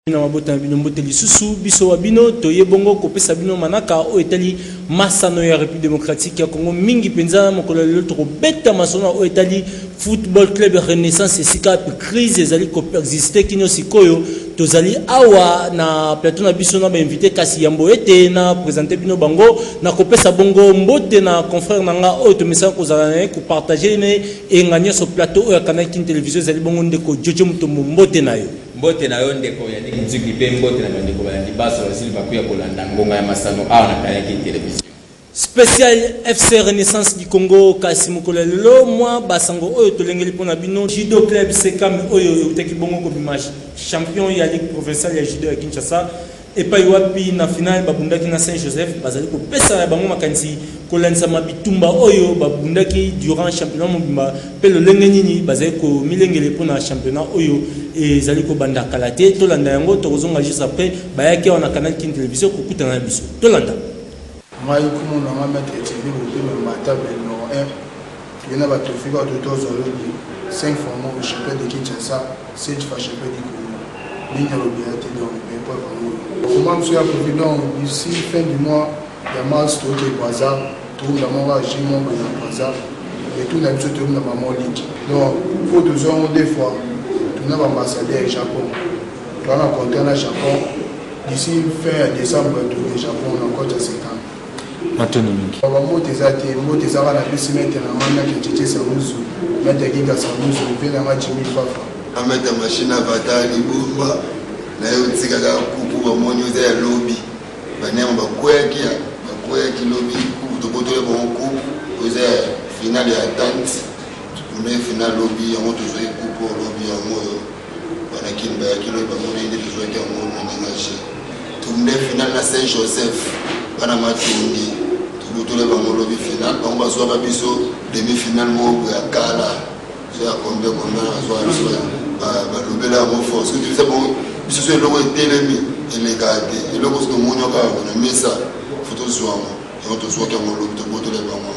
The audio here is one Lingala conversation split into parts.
na mabota na bino mbote lisusu biso wa bino toye bongo kopesa bino manaka oyo etali masano ya république démocratique ya congo mingi mpenza na mokolo ya lelo tokobeta masano oyo etali football club renaissance esika pe crise ezali koexiste kino sikoyo tozali awa na plateau na biso na bainvité kasi yambo ete na présente bino bango na kopesa bongo mbote na confrère na nga oyo tomesana kozala na ye kopartage ne enga nyonso plateau oyo akanaki television ezali bongo ndeko jojo motombo mbote na yo Mbote na yo ndeko Yannick Nzuki mpe mbote na bandeko balandi banso basili bakuya kolanda ngonga ya masano awa na Kayaki Television. Special FC Renaissance du Congo kasi mokolo ya lelo mwa basango oyo tolengeli mpo na bino judo club Sekame oyo eutaki bongo kobima champion ya ligue provinciale ya judo ya Kinshasa epai wapi na finale babundaki na saint joseph bazali kopesa ya bango makanisi kolandisama bitumba oyo babundaki durant championnat mobimba mpe lolenge nini bazali komilengele mpo na championnat oyo ezali kobanda kala te tolanda yango tokozonga juste après bayaki awa na canal kin television kokutana na biso tolanda Ngai kombo na ngai maitre Thierry Bobilo Mbata Belmor I, toye na ba trophee ba to tozwa lobi, 5 fois moko champion de Kinshasa, 7 fois champion du Congo. Nini ya lobi eza te donc ba epreuves yango oyo. Tokomba biso ya trophee donc d'ici fin du mois ya mars toke Brazza, tobunda moko ya jeu moko boye na Brazza, retour na biso tobunda ba mwa ligue. Donc po tozwa yango deux fois, tuna ba ambassadeurs Japon, toza na contrat na Japon. D'ici fin ya decembre toke Japon na cote ya Sekan. Matondo mingi. Baba mbote eza te, mbote eza kaka na pesi mete na mami ya Kechete Samuzu, mete ya Giga Samuzu, mpe na nga Jimmy Fafa. Ameta machine avata libumba na yo tika kaka kuku bamoni oza ya lobi baniama bakweyaki ya bakweyaki lobi kuku tobotoli bango kuku oza ya finale ya tante kuna ye finale lobi yango tozwaki kuku lobi yango oyo Bana kin bayaki lobi bamoni nde livoete yango omenage tourne final na saint joseph bana matongi tobutole bango lobi final bango bazwaka biso demi final moko ya kala so ya combien combien azwa biso balobela yango fort soki tobisa bango biso so eloko etelemi elekaka te eloko soki omoni okaka kona mesa fo tozwa yango yango tozwaki yango lobi tobotole bango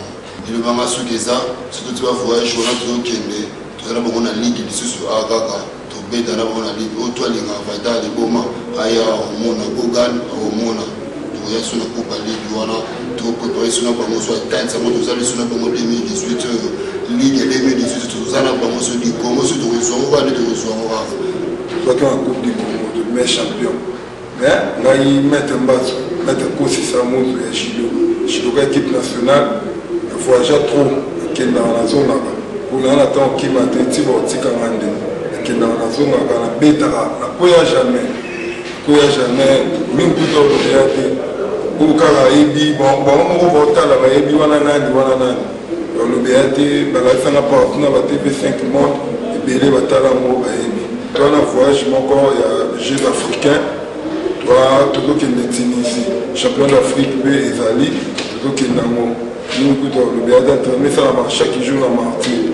Biloba nga suki eza surtout ti ba voyage wana tozo kende toza na bango na ligue lisusu awa kaka tobeta na bango na ligue oyo to alinga vata liboma aya omona gogan omona tokoya so na coupe ya ligue wana toprepare so na bango so atteinte yango toza liso na bango 2018 oyo ligue 2018 toza na bango so likongo so tokozwa ngo wana tokozwa ngo kaka soki na coupe du congo to me champion Eh, ngai maître Mbazo, maître Kosi Samuzu ya judo, judoka équipe nationale, na voyagea trop, akendaka na zongaka, kuna na temps kima te, tiba otika nga nde, akendaka na zongaka, na betaka, na koya jamais, koya jamais, mingi kuta olobeya te, oyo kaka ayebi, bango moko baotala bayebi wana nani, wana nani. Olobi ya te balakisa nga partout na ba TV 5 monde ebele batala ngo bayebi. Toi na voyage moko ya Jeux africains toi tozokende Tunisie champion d'Afrique mpe ezali tozokende yango mimi kutu olobi ya te entraînement esalama chaque jour na martyr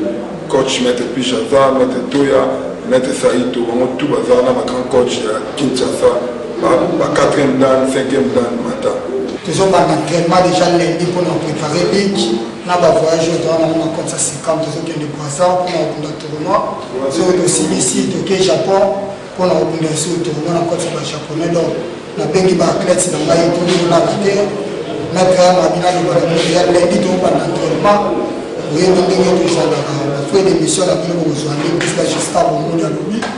coach maître Pichaza maître Toya maître Saito bango tout baza na ba grand coach ya Kinshasa ba quatrième dan cinquième dan mata tozobanda entraînement déjà lundi mpona préparer ligue na bavoyage oyo towana na compte ya sikam tozokende croissant mpona kobunda tournoi soki tosilisi toke japon mpona kobunda esu tournoi na compte ya bajaponais donc nabengi baathlète na ngai tololaka te na grand mabi nalobaka ya lundi tokobanda entraînement oyebi ndenge tozalaka bafrai d'émission na bino bokozwa nde mpesika jusqu'à bomoni alobi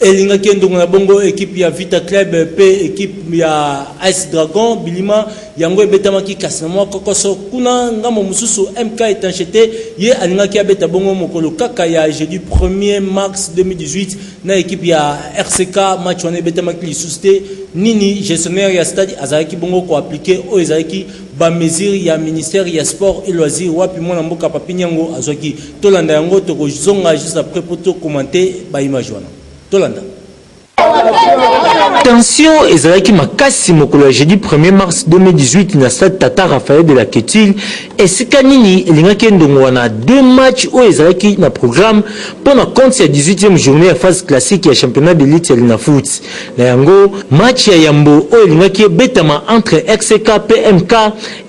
Elingaki endongo na bongo ekipe ya Vita Club mpe ekipe ya Ice Dragon bilima yango ebetamaki kasi na mwa kokoso kuna ngambo mosusu MK Etanchete ye alingaki abeta bongo mokolo kaka ya jeudi 1er mars 2018 na ekipe ya RCK match wana ebetamaki lisusu te nini gestionnaire ya stade azalaki bongo koaplike oyo ezalaki bamesure ya ministère ya sport et loisir wapi mwana mboka Papi Nyango azwaki Tolanda yango toko zonga juste après po to commenter ba image wana. Tolanda. Tension ezalaki makasi mokolo ya jeudi 1er mars 2018 na stade Tata Raphaël de la Quetil esika nini elingaki endongola na deux matchs oyo ezalaki na programme mpo na compte ya 18e journée ya phase classique ya championnat de lutte ya Linafoot. Na yango match ya yambo oyo elingaki ebetama entre XCK mpe MK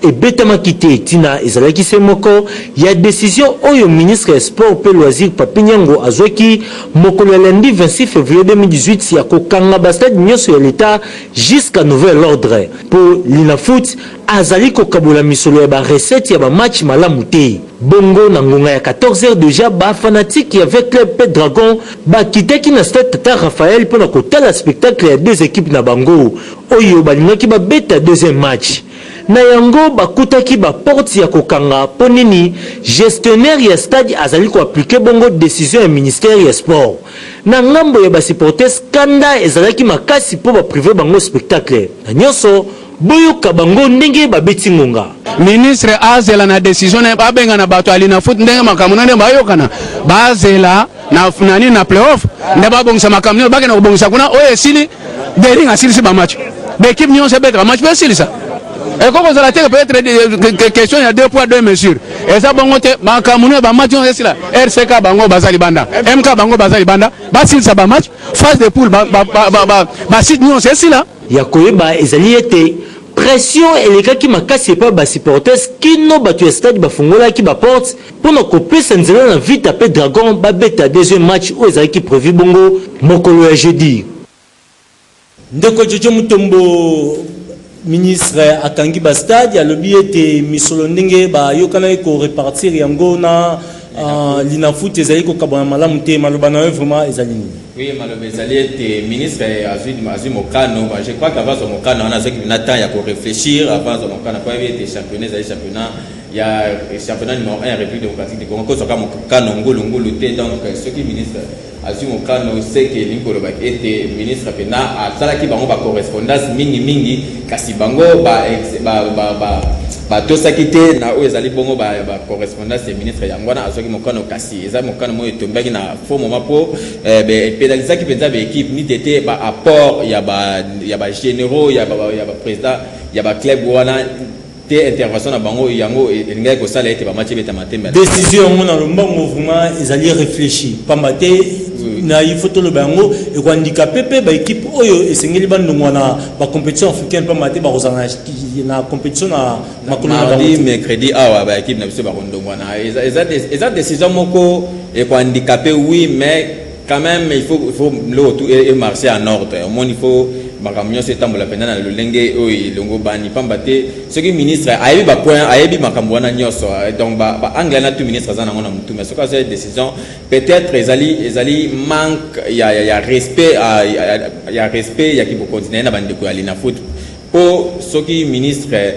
Ebetamaki te, tina ezalaki se moko, ya decision oyo ministre ya Sport mpe Loisirs Papy Nyango azwaki mokolo ya lundi 26 fevrier 2018 ya ko kanga ba stades nionso ya l'Etat jusqu'à nouvel ordre mpo Linafoot azali ko kabola misolo ya ba recettes ya ba matchs malamu te. Bongo na ngonga ya 14 heures dejà ba fanatiques ya V-Club mpe Dragons ba kitaki na stade Tata Raphaël mpo na ko tala spectacle ya deux equipes na bango oyo balingaki ba beta deuxième match. Na yango bakutaki ba portes ya kokanga mpo nini gestionnaire ya stade azali ko appliquer bongo decision ya ministère ya sport. Na ngambo ya ba supporters kanda ezalaki makasi mpo ba priver bango spectacle na nionso, boyoka bango ndenge babeti ngonga. Ministre azela na decision na ye, babengana batu ya Linafoot ndenge makambo na ndenge bayokana, bazela. na nani na playoff nde babongisa makambo nyonso bakenda kobongisa kuna oyo esili dering asilisi bamatch baekipe nyonso ebetaka match mpe esilisa ekoki kozala te peut-être question ya deux poids deux mesure eza bongo te makambo nyonso bamatch nyonso esila rck bango baza libanda mk bango baza libanda basilisa bamatch phase de poule basite nyonso esila ya koyeba ezali ete pression elekaki makasi epai basupporters kino bato ya stade bafungolaki baporte Mpo na kopesa nzela na Vita mpe Dragons babeta deuxième match oyo ezalaki prevu bongo mokolo ya jeudi. Ndeko Jojo Mutombo, ministre akangi ba stades, alobi ete misolo ndenge bayokanaki ko repartir yango na Linafoot ezali kokabwana malamu te. Maloba na yo vraiment ezali nini? Oui, maloba ezali ete ministre azwi mokano, je crois qu'avant azwa mokano wana azwaki mpenza temps ya ko reflechir avant azwa mokano mpo ayebi ete championnat ezali championnat. ya championnat numéro 1 ya république démocratique du congo kozwaka mokano ngulungulu te donc soki ministre azwi mokano seke elingi koloba ete ministre mpena asalaki bango bacorrespondance mingimingi kasi bango batosaki te na oyo ezali bongo bacorrespondance ya ministre yango wana azwaki mokano kasi eza mokano moko etombaki na fo moma mpo epedalisaki eh, mpenza baekipe nite te baapport ya bagénéraux ya baprésident ya baclub wana te intervention na bango yango elingaki kosala ete bamaci ebeta matembe décision yango na lombango vraiment ezali réfléchi pamba te na il faut toloba yango ekohandikape mpe baekipe oyo esengeli bandongwa na bacompétition africaine mpamba te bakozala na compétition na makolo na bango mercredi awa baekipe na biso bakondongwana eza décision moko ekohandikape oui mais quand même il faut, il faut biloko tout e marché en ordre omoni il faut makambo nyonso etambola mpenza na lolenge oyo elongo bani mpamba te soki ministre ayebi bapoint ayebi makambo wana nyonso euh, donc baanglais na tout ministre aza nango na motu mais soki azali décision peut-être ezali ezali manque ya, ya, ya respect ya, ya, ya respect ya kibokonzi na ye na bandeko ya linafoot mpo soki ministre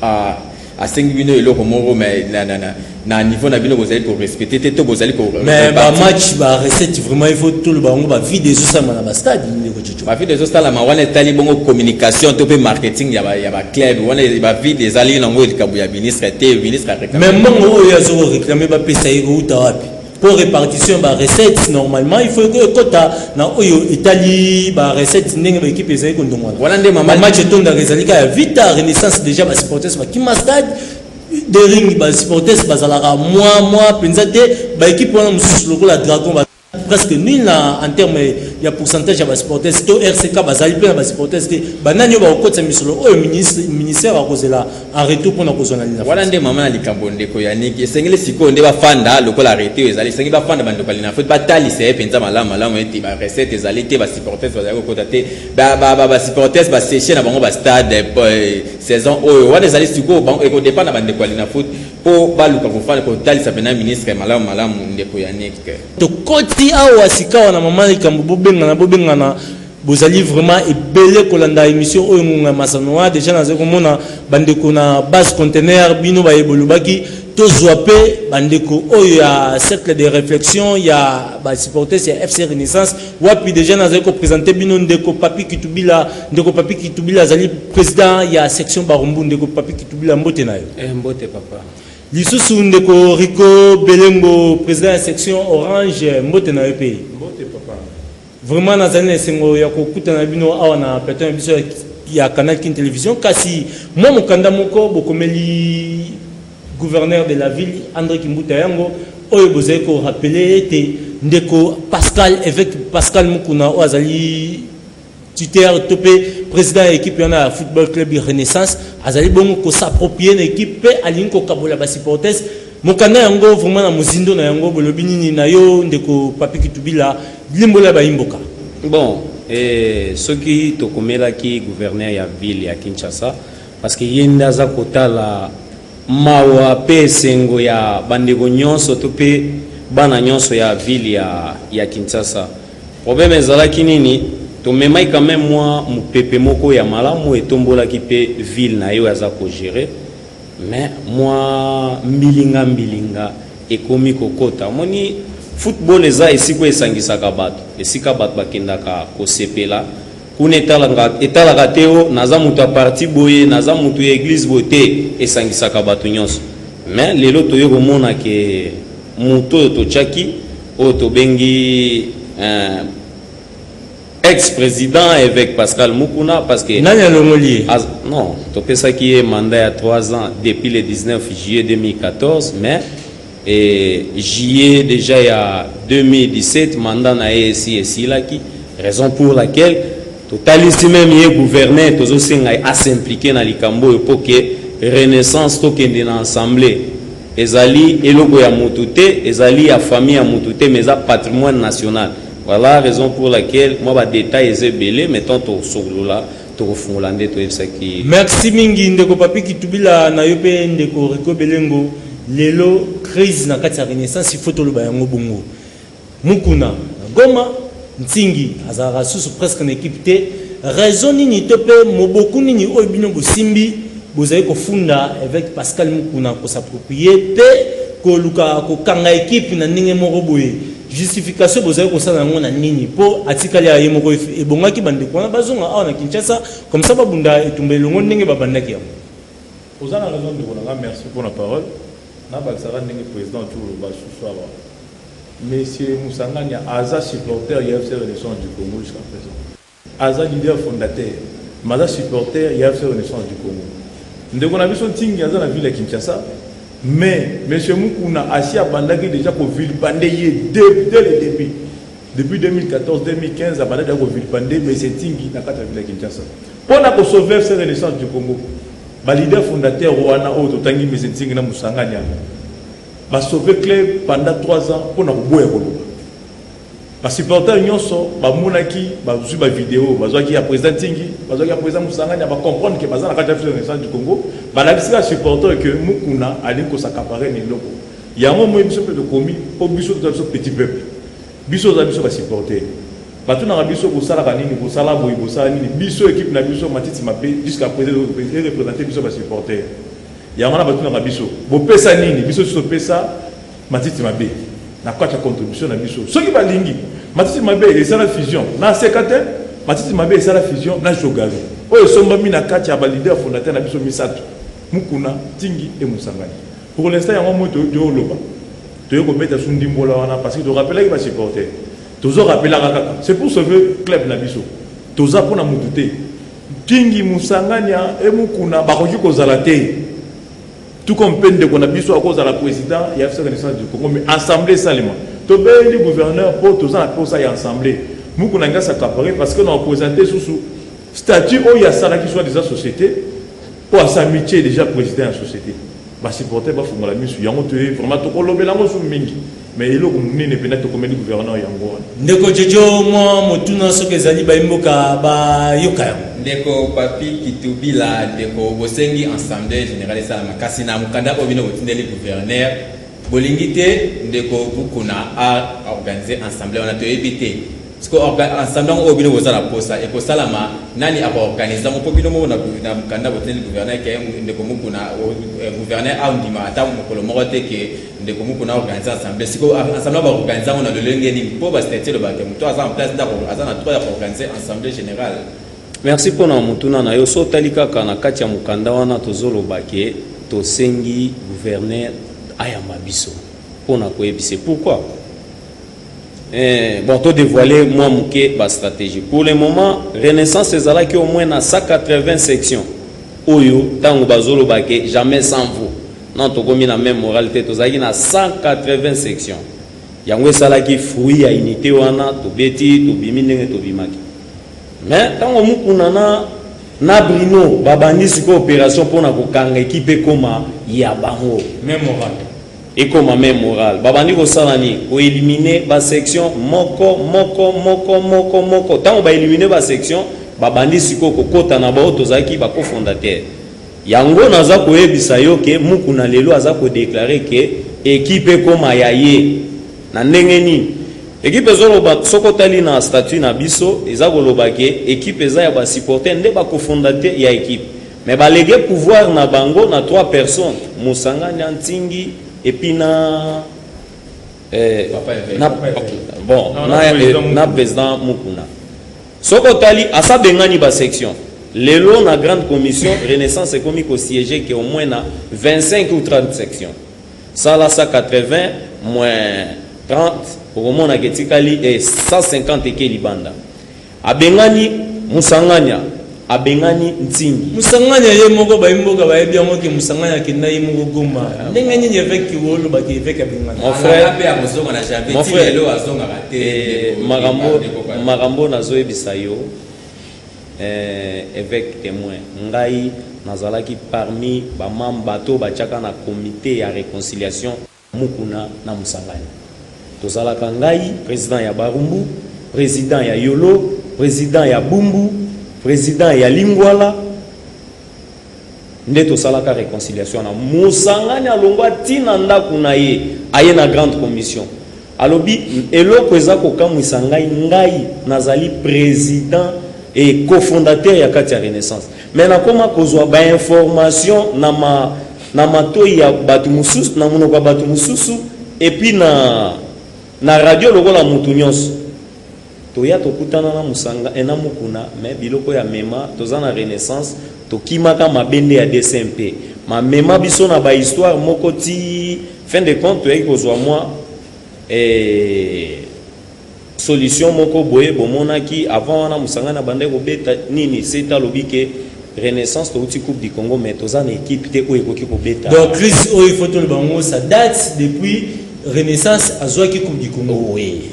Ah, asengi bino eloko moko mais na, na, na, na niveau na bino bozali korespecte te to bozali mais bamatch barecette vraiment il faut toloba yango bavide ezosalama na bastade ndeko coco bavide ezosalama wana etali bongo communication to mpe marketing ya baclub wana bavide ezali nango likambo ya ministre te ministre mais mbongo oyo azokoreklame bapesa ye kouta wapi Pour répartition ba recettes normalement il faut que kota na oyo etali ba recettes ndenge ba équipe ezali ko ndongwana. Voilà nde maman match etonda ezali ka ya Vita Renaissance déjà ba supporters ba Kima Stade de ring ba supporters bazalaka mwa mwa penza te ba équipe wana mosusu lokola Dragon ba presque nul na en terme ya pourcentage ya ba supporters to RCK bazali mpe na ba supporters te banani oyo bakokotisa misolo oyo ministère akozela en retour pona kozwa na linaface wana nde mama na likambo ndeko yaniki esengeli sikoyo nde bafanda lokola arrete oyo ezali esengeli bafanda bandeko ya linaface batalisa ye mpenza malamu malamu ete barecette ezali te basupportes bazali kokota te basupportes baseche na bango bastade eh, saison oyo wana ezali sikoyo bango ekodepa na bandeko ya linafoot mpo baluka kofanda kotalisa mpena ministre malamu malamu ndeko yaniki tokoti awa sikawa na mama likambo bobengana bobengana bozali vraiment ebele kolanda emission oyo ngonga ya masano wana deja nazali komona bandeko na base contenaire bino baye bolobaki tozwa mpe bandeko oyo ya cercle de réflexion ya basupportes ya fc renaissance wapi deja nazali kopresente bino ndeko papi kitubila ndeko papi kitubila azali président ya section barumbu ndeko papi kitubila mbote na yo eh, mbote papa lisusu ndeko rico belembo président ya section orange mbote na yo mpe Vraiment nazali na esengo ya kokutana na bino awa na plateau na biso ya Canal Kin Television kasi mwa mokanda moko bokomeli gouverneur de la ville Andre Kimbuta yango oyo bozali ko rappeler ete ndeko Pascal évêque Pascal Mukuna oyo azali tuteur to mpe président ya équipe wana ya football club Renaissance azali bongo ko s'approprier na équipe mpe alingi kokabola ba supporters mokanda yango vraiment na mozindo na yango bolobi nini na yo ndeko Papi Kitubila Limbola bayi mboka. Bon eh, soki tokomelaki gouverneur ya ville ya Kinshasa parce que ye nde aza kotala mawa pe esengo ya bandeko nyonso to pe bana nyonso ya ville ya, ya Kinshasa. Problème ezalaki nini? Tomemaki quand même mwa mopepe moko ya malamu etombolaki pe ville na ye oyo aza ko gerer. mais mwa mbilinga mbilinga ekomi kokota omoni football eza esika esangisaka bato esika bato bakendaka kosepela kuna etalaka, etalaka te o oh, naza moto ya parti boye naza moto ya eglise boye te esangisaka bato nyonso mais lelo toye komona ke moto oyo totyaki oyo tobengi eh, ex president eveque pascal mukuna parce que nani alongoli ye az... non topesaki ye mandat ya 3 ans depuis le 19 juillet 2014 mais et juillet déjà ya 2017 mandat na ye esi esilaki raison pour laquelle totalisi meme ye gouverneur tozosenga ye asimplike na likambo oyo mpo ke renaissance tokende na assemblée ezali eloko ya motu te ezali ya famille ya motu te mais eza patrimoine national Voilà raison pour laquelle moi ba details eza ebele mais tant tosolola tokofungola nde toyebisaki ye. Merci mingi ndeko Papy Kitubila na yo mpe ndeko Rico Belengo. Lelo crise na kati ya Renaissance il faut toloba yango bongo. Mukuna na Goma, Nsingi azalaka susu presque na equipe te. Raison nini to mpe moboku nini oyo bino bosimbi bozali kofunda Eveke Pascal Mukuna ko s'approprier mpe koluka kokanga equipe na ndenge moko boye? Justification bozali kosala yango na nini? Po atikali aye moko ebongaki bandeko wana bazonga awa na Kinshasa comme ça babunda etumba elongo ndenge babandaki yango. Oza na raison ndeko na nga merci pona parole nabakisaka ndenge president tu oloba susu awa monsieur Musanganya aza supporter ya FC Renaissance du Congo jusqu'à présent. Aza leader fondateur mais aza supporter ya feu renaissance du Congo. Ndeko na biso Ntingi aza na ville ya Kinshasa mais monsieur Mukuna asi abandaki dejà ko vilpande ye dès le début depuis 2014 2015 abanda deja ko vilpande mais c'est Ntingi na kati ya ville ya Kinshasa mpo na ko sauver feu renaissance du Congo ba leader fondateur wana oyo totangi monsieur Ntingi na Musangani yango ba sauver club pendant 3 ans mpo na koboya koloba Ba supporters nionso ba monaki ba zui ba video ba zuaki ya president Tingi ba zuaki ya president Musanganya ba comprendre que baza na kati ya Fils Renaissance du Congo ba lakisi ka supporter que Mukuna alingi ko s'accaparer na eloko yango moyi biso mpe tokomi mpo biso toza biso petit peuple biso oza biso ba supporter bato na biso bosalaka nini bosala boye bosala nini biso ekipe na biso matiti mabe jusqu'à présent erepresente biso basupporter yango wana batunaka biso bopesa nini biso biso topesa Matiti mabe na kati ya contribution na biso soki balingi matiti mabe esala fusion na seka te matiti mabe esala fusion na jogari oyo esombami na kati ya balider fondateur na biso misato mukuna tingi e mosangani pour l'instant yango moi toyoki oloba toye kobeta su ndimbola wana parce que torapelaki basupporter tozo rapelaka kaka c'est pour sauver club na biso toza mpona motu te tingi mosangani e mukuna bakoki kozala te Tout comme mpe ndeko na biso akozala president ya FC Renaissance du Congo mais assemblée esalema. Tobeli gouverneur mpo toza na mposa ya assemblée. Mukuna ngai s'accaparer parce que na représenter susu statut oyo asalaki soit disant société mpo asamitie déjà président ya société. Basupporter bafungola misu yango toye vraiment tokolobela yango su mingi. Mais eloko munene pena tokomeli gouverneur yango wana. Ndeko Jojo mwa motuna soki ezali bayi mboka ba yoka yango. Ndeko Papy Kitubila, ndeko bosengi Assemblee generale esalama kasi na mokanda oyo bino botindeli gouverneur bolingi te ndeko Bukuna a organiser Assemblee wana toyebi te. siko ensemble yango oyo bino boza na posa ekosalama nani akoorganize yango mpo bino moko na mokanda boteleli gouverneur ke ndeko mokuna eh, gouverneur aondima ata mokolo moko te ke ndeko mokuna aorganize ensemble siko ensemble baorganize yango na lolenge nini mpo bastatue elobaka ke moto aza na place ndako aza na droit ya koorganize ensemble général merci mpo na motuna na yo so otali kaka na kati ya mokanda wana tozoloba ke tosengi gouverneur ayamba biso mpo na koyebisa pourquoi Eh, bon, to dévoiler moi muke ba stratégie. Pour le moment, Renaissance ezalaki au moins na 180 sections. Oyo tango bazolo bake jamais sans vous. Non, tokomi na même moralité, tozalaki na 180 sections. Yango esalaki fruit ya unité wana, tobeti, tobimi ndenge tobimaki. Mais tango mukuna na na Bruno babandi siko opération pona kokanga équipe ekoma ya bango. Même morale. Ekoma meme morale. Babandi kosala nini? Ko eliminer ba sections moko moko moko moko moko. Tango ba eliminer ba sections, babandi sikoyo kokota na ba oyo tozalaki ba co-fondateurs. Yango naza koyebisa yo que Mukuna lelo aza ko declarer que equipe ekoma ya ye. Na ndenge nini? Equipe ezoloba, soki otali na statut na biso, eza koloba que equipe eza ya ba supporters nde ba co-fondateurs ya equipe. Mais ba legue pouvoir na bango na trois personnes Musangani antingi et puis na eh, na, bon, non, na, na, eh, na président Mukuna soki otali asabengani ba section lelo na grande commission renaissance ekomi kosiége ke au moins na 25 ou 30 section sala 180 moins 30 okomonaka etikali 150 eh, eke libanda Abengani Musanganya abengani Ntingi. Musanganya ye moko bayi mboka bayebi yango ke Musanganya akenda ye moko Goma. Ndenge nini eveke Kiwolo baki eveke abengana? Mon frère ape akozonga na janvier. Mon frère lelo azongaka te. Eh, makambo makambo nazoyebisa yo eh, eveke témoin ngai nazalaki parmi bamam bato batiaka na comité ya réconciliation Mukuna na Musangani tozalaka ngai president ya Barumbu, president ya Yolo, president ya Bumbu, president ya Lingwala nde tosalaka reconciliation wana. Musangani alongwa ti na ndako na ye aye na grande commission alobi eloko eza kokamwisa ngai ngai nazali president et cofondateur ya kati ya renaissance Mais nakoma kozwa ba informations na ma na matoyi ya bato mosusu na monoko ya bato mosusu epuis na na radio lokola moto nyonso toya tokutana na mosanga ena eh, mokuna me biloko ya mema toza na renaissance tokimaka mabe nde ya dcmp mamema biso na bahistoire moko ti fin de compte toyaki kozwa mwa eh, Solution moko boye bomonaki avant wana musangani abandaki kobeta nini sete alobi ke renaissance towuti coupe du congo mais toza na equipe te oyo ekoki kobeta donc chris oyo il faut toloba ngo sa date depuis renaissance azuaki coupe du congo oui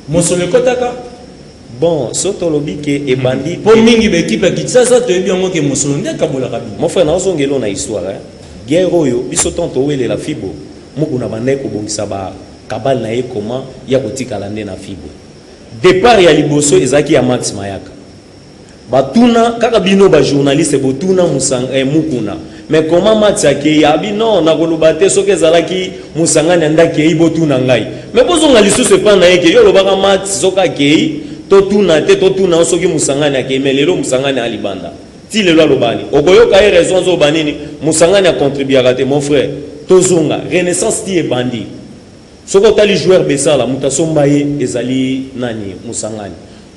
mosolo ekotaka bon so tolobi ke ebandi hmm. po mingi ba equipe ya kinshasa toyebi yango ke mosolo nde akabolaka bino mon frère naozongelo na histoire hein? guerre oyo biso ntango towelela fibo mokuna bandai kobongisa ba Kabale na ye comment ye akotikala nde na Fibo. Depart ya liboso ezalaki ya Max Mayaka. Batuna kaka bino ba journaliste botuna musanga eh, mukuna mais comment Max akeyi abi non nakoloba te soki ezalaki musangani anda akeyi botuna ngai mais bozonga lisusu epa na ye ke yo olobaka Max soki akeyi totuna te totuna soki musangani akeyi mais lelo musangani alibanda Ti lelo alobani okoyoka ye raison azo banini musangani a contribuaka te mon frère tozonga renaissance ti ebandi soki otali joueur besala moto asomba ye ezali nani musangani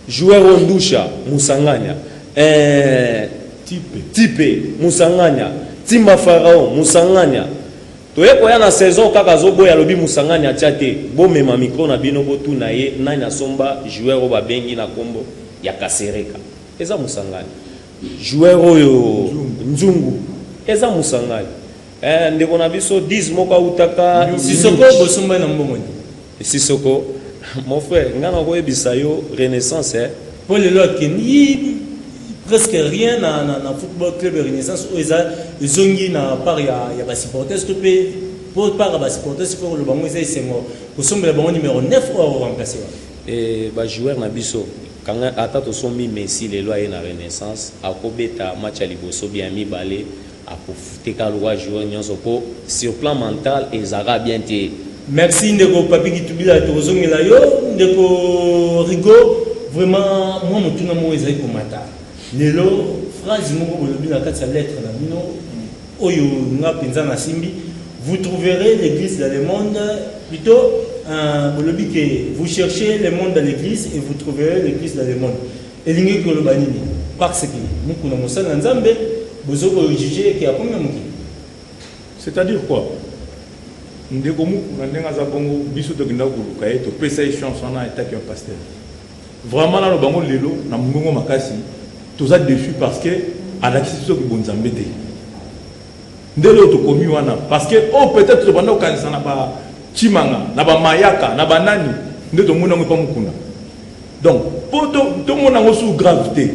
joueur oyo ndusha musangania eh, tipe, tipe musangania timba farao musangania toye koya na saison kaka azoboya alobi musangani atya te bomema mikro na bino botuna ye nani asomba joueur oyo babengi na nkombo ya kasereka Eza musangani. Joueur oyo Nzungu eza musangani. Eh ndeko na biso 10 moko autaka Sisoko bosomba na mbongo nini? Sisoko mon frère nga na koyebisa yo Renaissance eh. Po lelo akendi presque rien na, na, na football club ya renaissance oyo eza ezongi na part ya, ya basupporters to mpe mpo part ya basupporters mpo koloba yango eza esengo kosombela bango numero 9 oyo akoremplace wana e bajoueur na biso Kanga ata tosombi Messi lelo aye na renaissance ako beta match ya liboso ou bien ya mibale ako fute kaka lokola joueur nionso po sur plan mental eza kaka bien te. Merci ndeko papy kitubila tokozongela yo ndeko rigo vraiment mwa motuna moko ezali komata lelo phrase moko bolobi na kati ya lettre na bino oyo nga penza na simbi vous trouverez l'église dans le monde plutôt euh, bolobi ke vous cherchez le monde dans l'église et vous trouverez l'église dans le monde elingi koloba nini parce que mukuna mosali na nzambe bozoki kojuge eke akomi na mokili c'est-à-dire quoi ndeko mukuna ndenge aza bongo biso tokendaki koluka ye topesa ye chance wana etaki ya pasteur Vraiment naloba yango lelo na mungongo makasi toza deçu parce que alakisi biso ki bonzambe te nde leo tokomi wana parce que oyo oh, peut-être tobanda kokanisa na ba chimanga na ba mayaka na banani nde tomoni yango epa mokuna donc mpo tomona yango sous grave te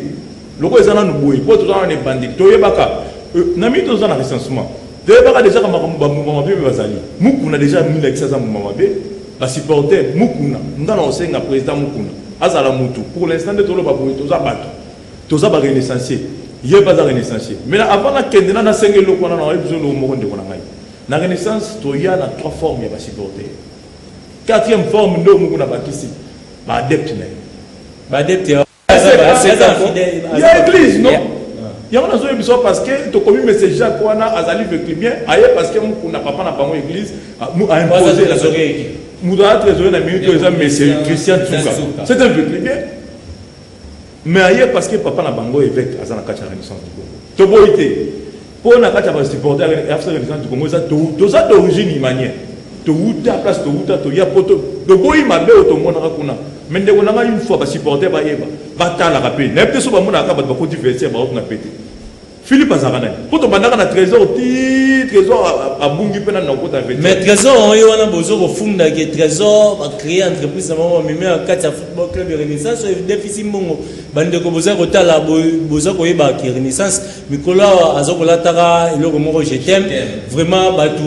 lokola eza nanu boye mpo toza wana ebandeli toyebaka euh, na mii toza na recensement Toyebaka dejà ka makambo ba mbuma mabe bazali. Mukuna dejà amilakisi aza mbuma mabe. Ba supporter Mukuna. Nga na osenga president Mukuna azala mutu. Pour l'instant nde toloba boye toza batu. Toza ba renaissancier. Ye pe aza renaissancier. Mais na avant na kende na na senga eloko wana na oyebi biso eloko moko ndeko na ngai. Na renaissance toya na trois formes ya ba supporter. Quatrième forme nde Mukuna bakisi ba adepte na ye. Ba adepte ya ya eglise no yango nazoye biso parce que tokomi mese jacques wana azali veclibien aye parce que mokunda papa na bango église aimposer moto aza trésorier na minute oyo eza mese christian tsuka c'est un veclibien mais aye parce que papa na bango évêque aza na kati ya renaissance du congo toboyi te Po na kati ya ba supporter ya FC Renaissance du Congo eza toza d'origine imanien. Towuta place towuta toya poto toboyi mabe oyo tomonaka kuna. Mais ndeko na ngai une fois ba supporter bayeba batalaka pe nayebi te so bamonaka kaka bato bakoti vestiaire bakokuna pete. Philippe azalaka nani? Po tobandaka na trésor ti trésor abungi pe nani nakokota vestiaire. Mais trésor yango ye wana bozo kofunda ke trésor ba créer entreprise na bango bamemi na kati ya football club ya Renaissance oyo edefisi mbongo. Bandeko boza kotala boza koyeba ke Renaissance mikolo awa aza kolataka eloko moko je t'aime vraiment bato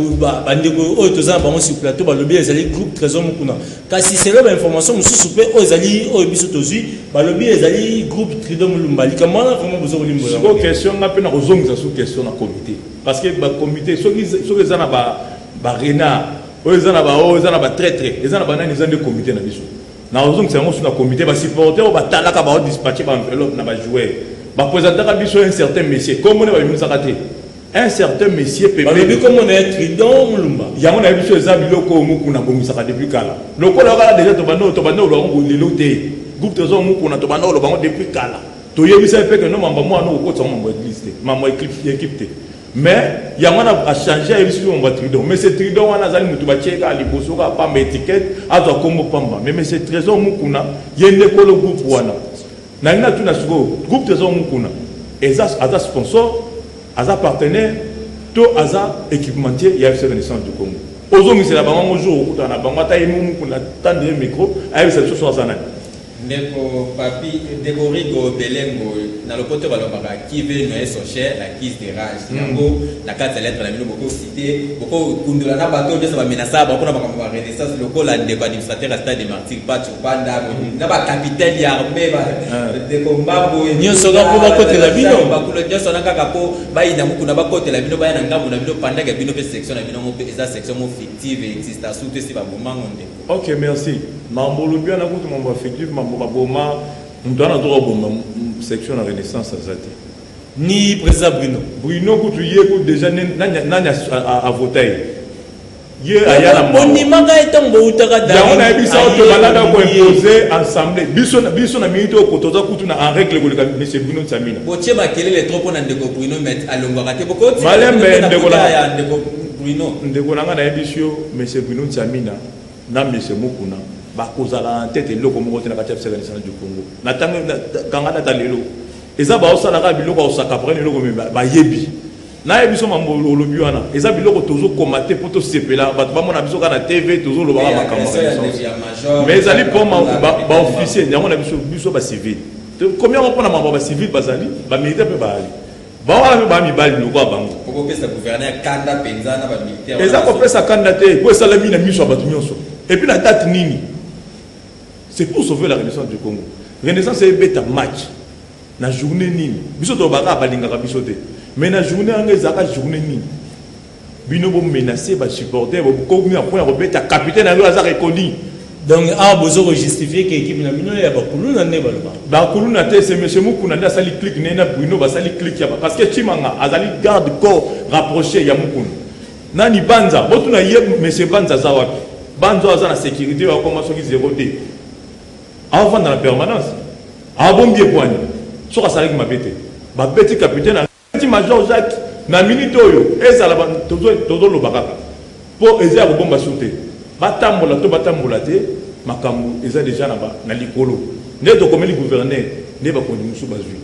bandeko oyo toza na bango sur plateau balobi ezali groupe trésor mokuna kasi selo bainformation mosusu mpe oyo ezali oyo biso tozwi balobi ezali groupe trido molumba likambo wana vraiment boza kolimbola question nga mpe na kozongisa su question na comité parce que bacomité soki eza na barenard oyo eza na baoyo eza na batraitre eza na banani eza nde comité na biso Nakozongisa yango su na comite, ba supporter oyo batalaka bao dispatche ba enveloppe na ba joueur. Ba presentaka biso un certain monsieur, kombo ne babimisaka te. Un certain monsieur pembe. Balobi kombo na ye Tridon Mulumba. Yango na biso eza biloko oyo mukuna bongisaka depuis kala. Lokola okala deja tobanda tobanda oloba ngo lelo te. Groupe tozo mukuna tobanda oloba ngo depuis kala. Toyebisa ye pe que no mamba mwana okotisa ngo mambo ya église te, mambo ya équipe te. Mais yango wana a changer ayebi soki omba Tridon. Mais c'est Tridon wana azali mutu batie kaka liboso kaka pamba etiquette azwa kombo pamba. Mais mais c'est Trésor Mukuna ye nde kolo groupe wana. Nalingi natuna sikoyo groupe Trésor Mukuna eza aza sponsor aza partenaire to aza équipementier ya FC Renaissance du Congo. Ozongisela bango yango jour okutana na bango ata ye Mukuna tande ye micro ayebisa biso soki aza nani. Ndeko papy deborigo belengo na lopoto balobaka qui veut noyer son cher l'accuse de rage yango na kati ya lettre na bino boko cite boko kundola na bato oyo nyonso ba menasaka bango mpona makambo ya renaissance lokola ndeko administrateur ya stade de martyr pacho panda na ba capitaine ya armee ba ndeko mbambo nyonso kaka mpo bakotela bino bakulo nyonso na kaka mpo bayina mokuna bakotela bino baya na ngambo na bino pandaka bino mpe section na bino yango mpe eza section mo fictive exista surtout esi babomango ndeko Ok merci mambo olobi wana kutu mambo affectif mambo baboma moto wana azoka kobomba section na renaissance aza te ni président bruno bruno kutu ye kutu déjà nani avota ye ye aya na mondimaka ye ntango bowutaka yango nayebisa yo tobalaka koimpose ensemble biso na minute oyo kotoza kutu na en règle koleka monsieur bruno nsamina botie makelele trop mpo na ndeko bruno met alongwaka te bokomalembe ndeko Bruno. Ndeko na nga nayebisi yo monsieur Bruno Nsamina na monsieur Mukuna bakozala na tete eloko moko te na kati ya FCC national du Congo na tango kanga na talelo eza baosala kaka biloko ya osakapaka na eloko me bayebi naye biso mambo olobi wana eza biloko tozokoma te mpo tosepela bato bamona biso kaka na tv tozolobaka makambo mais ezali mpo baofficier yango na biso biso bacivile tokomi yango mpo na mambo ya bacivile bazali bamilitaire mpe baali bango wana mpe baa mibali lokola bango eza kopesa kanda te mpo esalami na miso ya bato nyonso epuis na date nini c'est pour sauver la renaissance du congo renaissance ebeta match na journée nini biso tolobaka balingaka biso te mais na journée yango ezalaka journée nini Bino bo menacer ba supporters bo komi na point ya kobeta capitaine yango aza reconi. Donc awa bozo ko justifier que équipe na bino ya ba kuluna nde ba loba. Ba kuluna te c'est monsieur Mukuna nde asali clique ne na Bruno basali clique ya parce que Chimanga azali garde corps rapproché ya Mukuna. Nani Banza botuna ye monsieur Banza aza wapi? Banza aza na sécurité ya koma soki zero te. Avant dans la permanence. Abombi epwani. Soka salaki mabete. Babeti capitaine Petit major Jacques na minute oyo ezala ba tozo tozo loba kaka po eza ya kobomba sur te ba tambola to ba tambola te makambo eza deja na ba na likolo nde tokomeli gouverneur nde bakonzi mosusu bazwi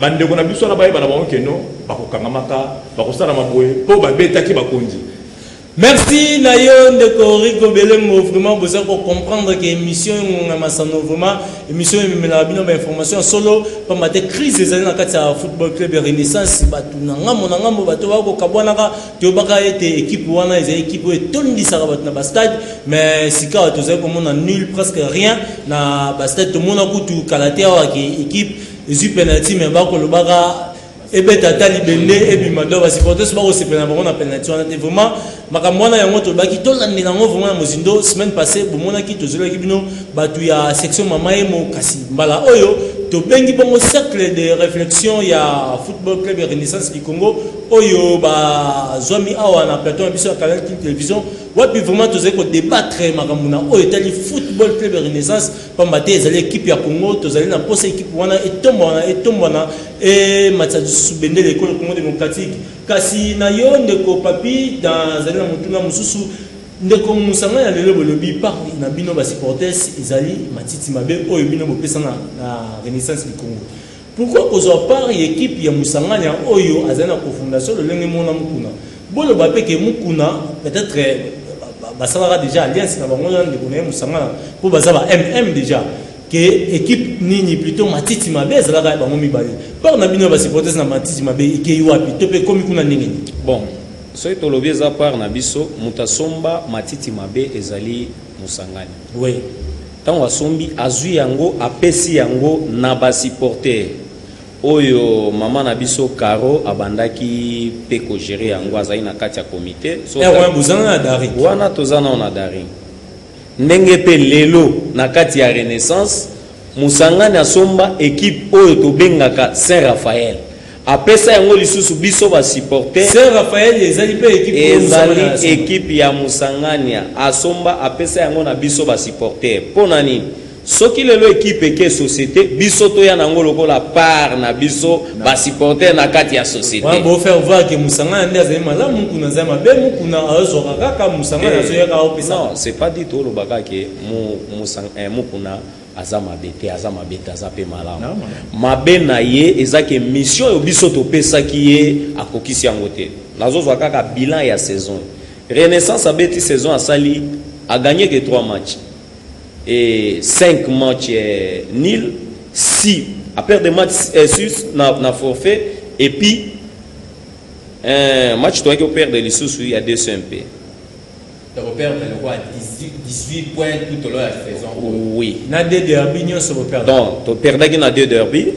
bandeko na biso wana bayeba na bango keno bakokangamaka bakosalama boye po babetaki bakonzi Merci na yo ndeko Rico Belembo vraiment boza ko comprendre que emission engonga masano vraiment emission ememelaka bino ba information ya solo pamba te crise ezali na kati ya football club ya Renaissance bato na ngambo na ngambo bato bako kabwanaka toyebaka ete ekipe wana ezali ekipe oyo etondisaka bato na ba stade mais sikawa tozali komona nul presque rien na ba stade tomona kutu kala te awa ke ekipe ezwi penalty mais bakolobaka ebeta ata libende ebima do basupporters bakosepela na bango na penalty wana te vraiment makambo wana yango tolobaki tolandela yango vraiment na mozindo semaine passé bomonaki tozolaki bino bato ya section mama yemo kasi mbala oyo tobengi bongo cercle de réflexion ya football club ya renaissance du congo oyo bazwami awa na plateau na biso ya canal king télévision wapi vraiment tozali kodebattre makambo na oyo etali football club ya renaissance pamba te ezali ekipe ya congo tozali na mposa ekipe wana etombwana etombwana ematisa lisusu bendele ekolo congo démocratique kasi na yo ndeko papi nazali na motuna mosusu ndeko mosanga ya lelo bolobi parti na bino basupporters ezali matiti mabe oyo bino bopesa na, na renaissance du congo Pourquoi kozwa part ya equipe ya Musanganya oyo azali na cofondation lolenge moko na Mukuna? Boloba pe ke Mukuna peut etre basalaka dejà alliance na bango na ndeko na ye Musangana po baza ba MM dejà ke equipe nini plutot matiti mabe ezalaka ya bango mibale part na bino ya ba supporters na matiti mabe ekeyi wapi to pe ekomi kuna ndenge nini? Bon soki tolobi eza part na biso moto asomba matiti mabe ezali mosangani we ntango asombi azwi yango apesi yango na basiporter oyo mama na biso caro abandaki mpe kogere yango azali na kati ya komite wana toza nao na daring ndenge mpe lelo na kati ya renaissance mosangani asomba ekipe oyo tobengaka saint raphael Apesa yango lisusu biso ba supporters. Saint Raphael ezali pe equipe oyo Musangani asomba. Ezali equipe ya Musangania asomba apesa yango na biso ba supporters. Pona nini? Soki lelo equipe eke societe biso toya na yango lokola part na biso ba supporters na kati ya societe. Wana bo faire voir que Musangana nde azali malamu Mukuna azali mabe Mukuna azwaka kaka Musangana azoyaka aopesa. Non c'est pas dit toloba kaka que Mukuna aza mabe te aza mabe te aza mpe malamu mabe na ye eza ke mission oyo biso topesaki ye akokisi yango te nazozwa kaka bilan ya saison renaissance abeti saison asali aganye ke 3 match e 5 match eh, nil si aperde match eh, sus na, na forfait epuis eh, match toyaki operde lisusu ya 2 mpe Toko perdre le roi 18, 18 points tout au long ya saison. Oui. Na deux derby nionso bo perdre. Donc to perdaki na deux derby.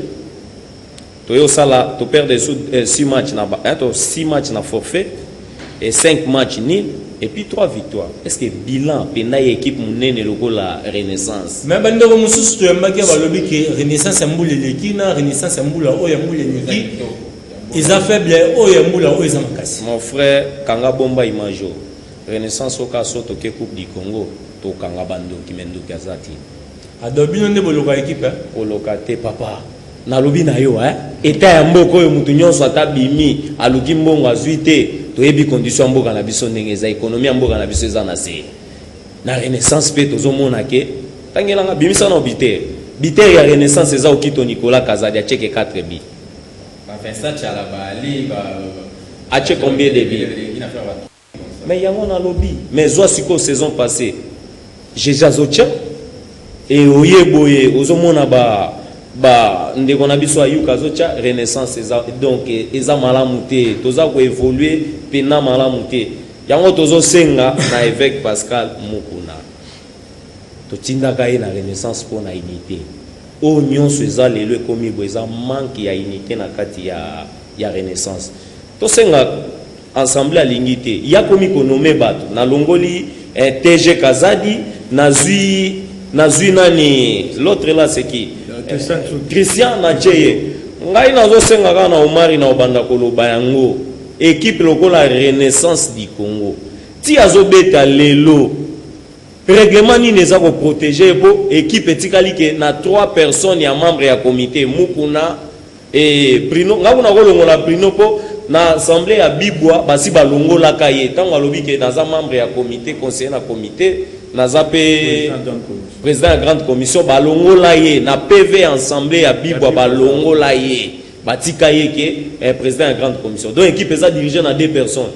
To yo sala to perdre sous 6 euh, matchs na ba, eh, to 6 matchs na forfait et 5 matchs ni et puis 3 victoires. Est-ce que bilan pena ya équipe munene lokola Renaissance? Mais bande ko mususu to yambaki ba lobi que Renaissance ya mbule leki na Renaissance ya mbula oyo ya mbule leki. eza faible oyo ya mbula oyo eza makasi mon frère kanga bomba image oyo renaissance oyo kaka so toke coupe du congo tokanga bandoki me ndoki aza te ado bino nde boloka ekipe eh? koloka te papa nalobi na yo eh? eta ya mboka oyo moto nyonso ata bimi aluki mbongo azwi te toyebi condition ya mboka na biso ndenge eza ekonomi ya mboka na biso eza na se na renaissance mpe tozomona ke tangelanga bimisa na bitere bitere ya renaissance eza okito nicolas kazadi aceke 4 bi Ba Vincent Tshala ba Ali ba Atie combien de buts? Mais yango na lobi mais zwa sikoyo saison passée jesus azotia e oye boye ozomona ba ba ndeko na biso ayuka azotia renaissance eza donc eza malamu te toza koevolue mpena malamu te yango tozosenga na évêque pascal mukuna totindaka ye na renaissance mpo na unité Oyo nionso eza lelo ekomi boye eza manque ya unite na kati ya ya renaissance. Tosenga ensemble alingi te ye akomi ko nomme batu na longoli eh, TG Kazadi nazui nazui nani l'autre là c'est qui eh, Christian na Cheye ngai nazosenga kaka na Omari na obanda koloba yango equipe lokola renaissance du Congo ti azobeta lelo Reglement nini eza ko proteger ye po equipe etikali ke na trois personnes ya membre ya comite Mukuna et Bruno nga kuna kolongola Bruno po na assemblée ya Bibwa basi balongolaka ye ntango alobi ke naza membre ya comite conseiller na comite naza pe président ya grande commission balongola ye na PV ya assemblée ya Bibwa balongola ye batika ye ke eh, président ya grande commission donc equipe eza dirigée na deux personnes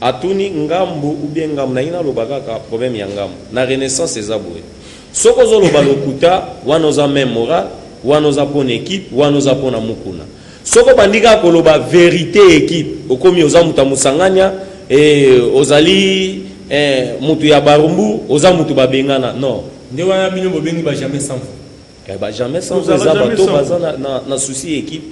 Atuni ngambu ou bien ngambu nalingi naloba kaka problème ya ngambu na renaissance eza boye soki ozo loba lokuta wana oza meme moral wana oza pona equipe wana oza pona mukuna soki obandi kaka koloba verite ya equipe okomi oza moto ya mosangania eh, ozali eh, moto ya barumbu oza moto babengana non nde wana bino bobengi ba jamais sans eh, ba jamais sans eza bato baza na, na, na souci ya equipe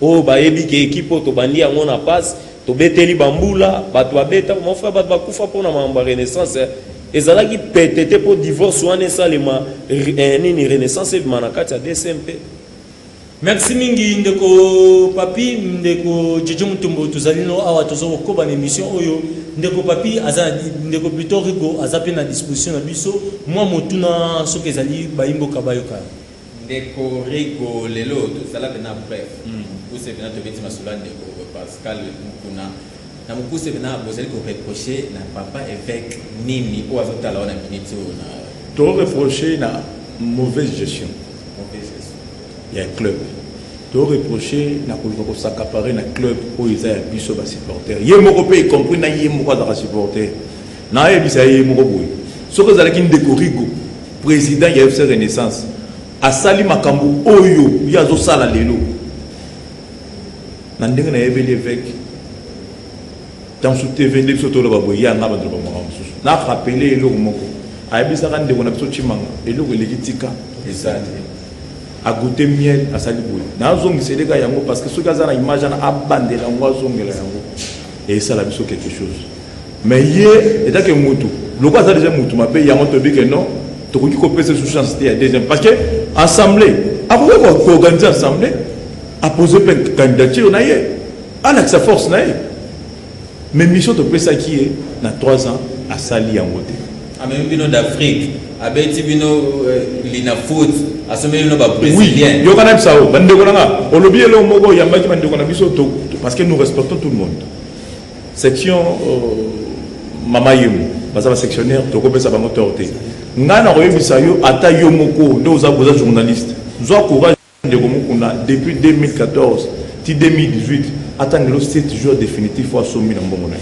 Oyo bayebi ke ekipe oyo tobandi yango na passe, tobeteli bambula, bato babeta, mon frère bato bakufa mpo na makambo ya renaissance eh. Ezalaki pete te mpo divorce wana esalema eh, nini renaissance ebima na kati ya DSM mpe merci mingi ndeko papi ndeko jojo mutombo tozali no awa toza kokoba na émission oyo ndeko papi aza ndeko plutôt rigo aza mpe na disposition na biso mwa motuna soki ezali bayimboka bayoka Ndeko Rigo lelo tozala bena bref mukuse bena tobeti masolo ya ndeko Pascal Mukuna na mukuse bena bozali ko reprocher na papa eveque nini oyo azotala wana minute oyo na To reprocher na mauvaise gestion mauvaise gestion ya club to reprocher na koluka ko s'accaparer na club oyo eza ya biso ba supporters ye moko pe y compris na ye moko azalaka supporter Nayebisa ye ye moko boye, soki ezalaki ndeko Rigo, president ya FC Renaissance, asali makambo oyo ye azosala lelo, na ndenge nayebeli eveke ntango mosusu tv nde biso toloba boye ye anga bato loba makambo mosusu na rapele eloko moko ayebisaka ndeko na biso cimanga eloko eleki tika eza te agoute miel asali boye nazongiseleka yango parce que soki aza na image wana abandela yango azongela yango esala biso quelque chose Mais ye etant que mutu lokola aza dejà mutu mabe yango toyebi que non tokoki kopesa lisusu chance te ya deuxième parce que assemblée akoki koorganize assemblée apose mpe candidature na ye alakisa force na ye mais mission topesaki ye na 3 ans asali yango te amemi ah, bino d'afrique abeti bino euh, lina foot asomeli bino babrésilien yoka na bisa o bandeko na nga olobi eloko moko oyambaki bandeko na biso parce que nous respectons tout le monde Section mama yemo baza ba sectionnaire tokopesa bango tort te ngai nakoyebisa yo ata yo moko nde oza boza journaliste zwa courage ndeko mokuna depuis 2014 ti 2018 ata ndelo 7 jours définitif oyo asombi na mbongo na ye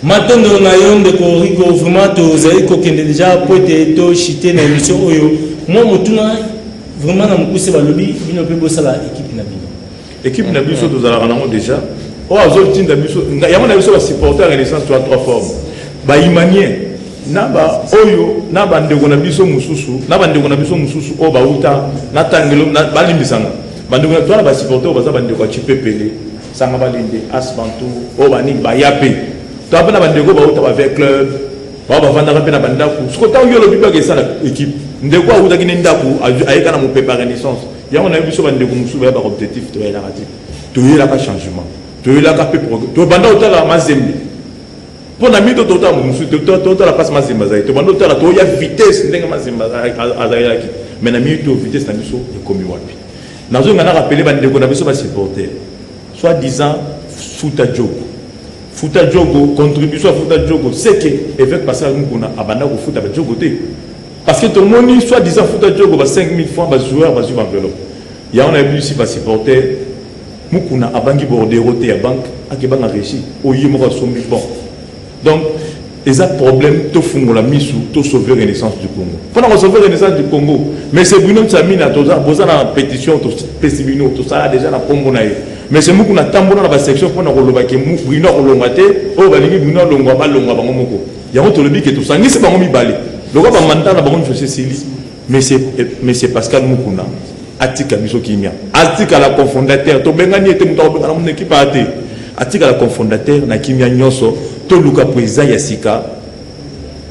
matondo na yo ndeko rico vraiment tozali kokende deja mpo ete toshite na émission oyo mwa motuna vraiment na mokuse balobi bino mpe bosala ekipe na bino Equipe na biso tozalaka nango deja oyo azotinda biso yango na biso basupporte ya renaissance toa trois forme bahumanien na baoyo na bandeko na biso mosusu na bandeko na biso mosusu oyo bauta na tangelo balimbisanga bandeko na toa na basupporte oyo baza bandeko ya cipepele sanga balinde asbantu oyo banini baya mpe toa mpe na bandeko bauta bave club bao bavandaka mpe na bandako soko ntango yo olobi baka esala ekipe ndeko autaki ne ndako ayeka na mopepa renaissance yango nayebi biso bandeko mosusu baya baobjectif toyelaka te toyelaka changement toyelaka mpe tobanda kotala mazembe mpo na mito totala moto mosusu totala mpasi mazembe azalaki tobanda kotala toya vitesse ndenge mazembe azalaki mai na mito vitesse na biso ekomi wapi nazonga na rapele bandeko na biso basupporter soit disant futa jogo futa jogo contribution ya futa jogo seke évêque pascal mukuna abanda kofuta bajogo te Parce que tomoni soit disant futa diogo ba 5000 francs ba joueurs bazwi ba enveloppe yango na yebisi ba supporter mukuna abangi bordero te ya banque akebanga regie oyo ye moko asombi bon donc eza problème tofungola misu to sauver renaissance du congo mpona kosauver renaissance du congo monsieur bruno nsamina boza na pétition topesi bino tosala déjà na nkombo na ye monsieur muku na tambola na basection mpona kolobake bruno akolongwa te oyo balingi bruno alongwa balongwa bango moko Yango tolobi ke tosangisi bango mibale lokola ba mandat na bango nyonso esili. Monsieur Monsieur Pascal Mukuna atika biso kimia, atikala cofondateur, tobengani ye te, moto akobengana mona ekipe aya te, atikala cofondateur na kimia nyonso, toluka president ya sika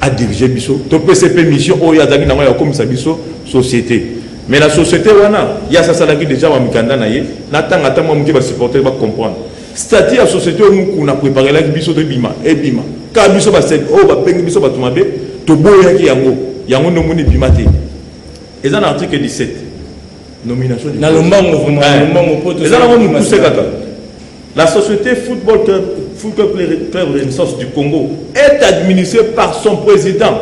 adirige biso, topesa mpe mission oyo azalaki nango ya kokomisa biso societe mais na societe wana ye asasalaki deja bamikanda na ye natanga ata mwa moke basupporter bacomprendre Statut ya societe oyo Mukuna apreparelaki biso to ebima ebima kaka biso basek oyo babengi biso bato mabe toboyaki yango yango nde omoni ebima te eza na article 17 nomination na lombango vraiment eh. lombango poto eza nango mokuse kaka la société football club, football club renaissance du congo est administrée par son président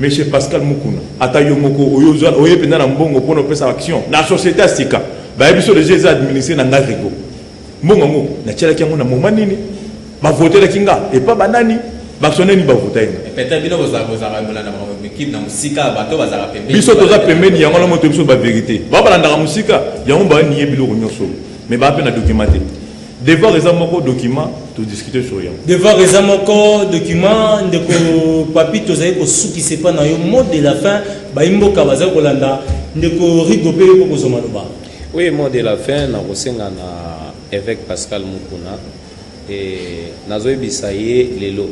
Monsieur Pascal Mukuna, ata yo moko oyo ozwa oye penda na mbongo pona opesa action na societe ya sika baye biso deja eza administre na nga Rigo. Mbongo yango na tialaki yango na moment nini? Ba votelaki nga epa ba nani? Bactionnaire nini ba vota nga? Peut-être bino boza boza ba bolanda ba équipe na musika bato bazala pembeni. Biso toza pembeni yango na moto biso ba verite. Ba balandaka musika yango ba niye biloko nyoso. Mais ba pe na documenté. Devoir eza moko document to discuter sur yango. Devoir eza moko document ndeko papi tozali kosukisa epa na yo mot de la fin bayi mboka bazali kolanda ndeko Rigo pe yoko kozwa maloba. Oui mot de la fin na kosenga na évêque Pascal Mukuna et nazoyebisa ye lelo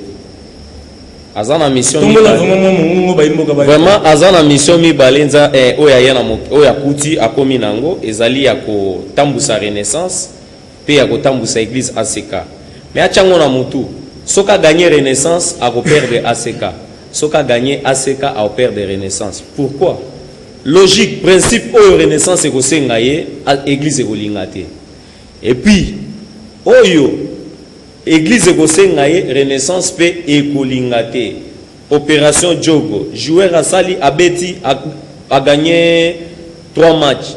aza na mission vraiment aza na mission mibale nza eh, oyo aya na oyo akuti akomi na yango ezali ya kotambusa renaissance pe ya kotambusa eglise ACK mais atia ngo na mutu soki a gagne renaissance ako perdre ACK soki a gagne ACK ako perdre renaissance pourquoi logique principe oyo renaissance ekosenga ye eglise ekolinga te et puis oyo eglise ekosenga ye renaissance pe ekolinga te opération jogo joueur asali abeti a, a gagner 3 matchs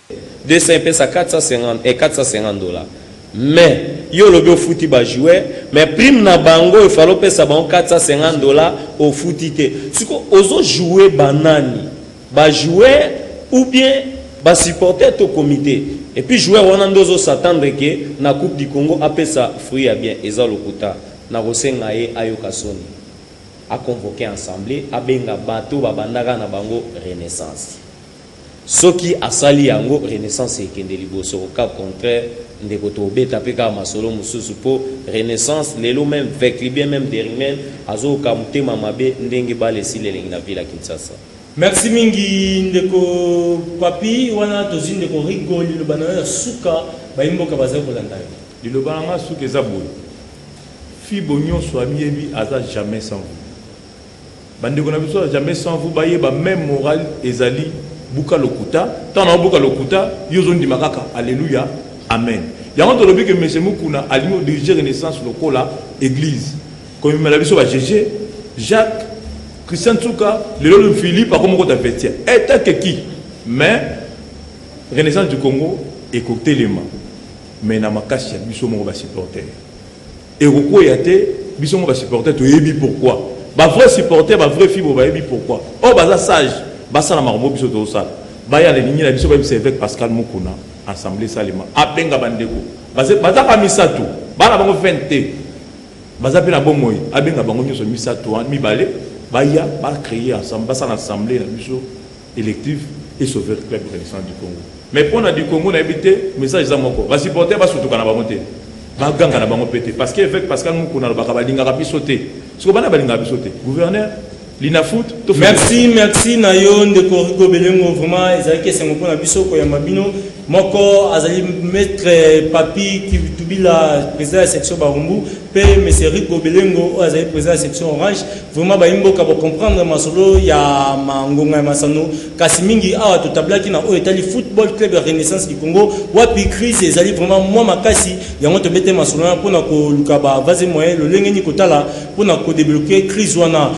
200 epesa 450 eh 450 dollars mais yo olobi ofuti ba joueur mais prime na bango il fallait opesa bango 450 dollars ofuti te siko ozo joue banani ba joueur ou bien ba supporter to comité et puis joueur wana nde ozo s'attendre que na coupe du Congo apesa fruit ya bien eza lokuta na kosenga ye ayoka soni a convoquer ensemble abenga bato babandaka na bango renaissance Soki asali yango renaissance ekende liboso au cas contraire ndeko tobeta pe kaka masolo mususu po renaissance lelo meme veclibien meme derimen azooka mutema mabe ndenge balle esili elengi na ville ya kinshasa. Merci mingi ndeko papy wana tozui ndeko rigo liloba nayo ya suka bayi mboka bazali kolanda yo. Liloba na nga ya suka eza boye fibo nionso amiyebi aza jamais sans gout. Ba ndeko na biso ya jamais sans vous ba yeba meme morale ezali buka lokuta tant na buka lokuta yo zo ndima kaka alléluia amen yango to lobi que monsieur Mukuna alimo diriger renaissance lokola église ko mimela biso ba jeje Jacques Christian Tsuka lelo le Philippe akomo ko ta vestiaire eta que qui mais renaissance du Congo et ko telema mais na makasi ya biso moko ba supporter Ekokweya te biso moko ba supporter toyebi pourquoi ba vrai supporter ba vrai fibo bayebi pourquoi oyo baza sage basala makambo oyo biso tozosala baya na ligne na biso bayebisa eveque Pascal Mukuna assemblee esalema abenga ba ndeko baze baza kaka misato bana bango 20 te baza mpe na bomoi abenga bango nyonso misato wana mibale baya ba creer ensemble basala assemblee na biso elective e sauver club renaissance du congo mais mpo na du congo nayebi te message eza moko basupporter basutuka na bango te baganga na bango mpe te parce que évêque pascal mokuna alobaka balingaka biso te soko bana balingaka biso te gouverneur linafoot merci merci na yo ndeko rigo belengo vraiment ezalaki esengo mpo na biso koyamba bino Moko azali Maitre Papi Kibitubila, president ya section Barumbu, pe Monsieur Rico Belengo oyo azali president ya section Orange. Vraiment bayi mboka bo comprendre masolo ya ma ngonga ya masano, kasi mingi awa to tablaki na oyo etali Football Club ya Renaissance du Congo, wapi crise ezali vraiment mwa makasi, yango to bete masolo wana pona ko luka ba vase moyen lolenge nini ko tala pona ko debloquer crise wana.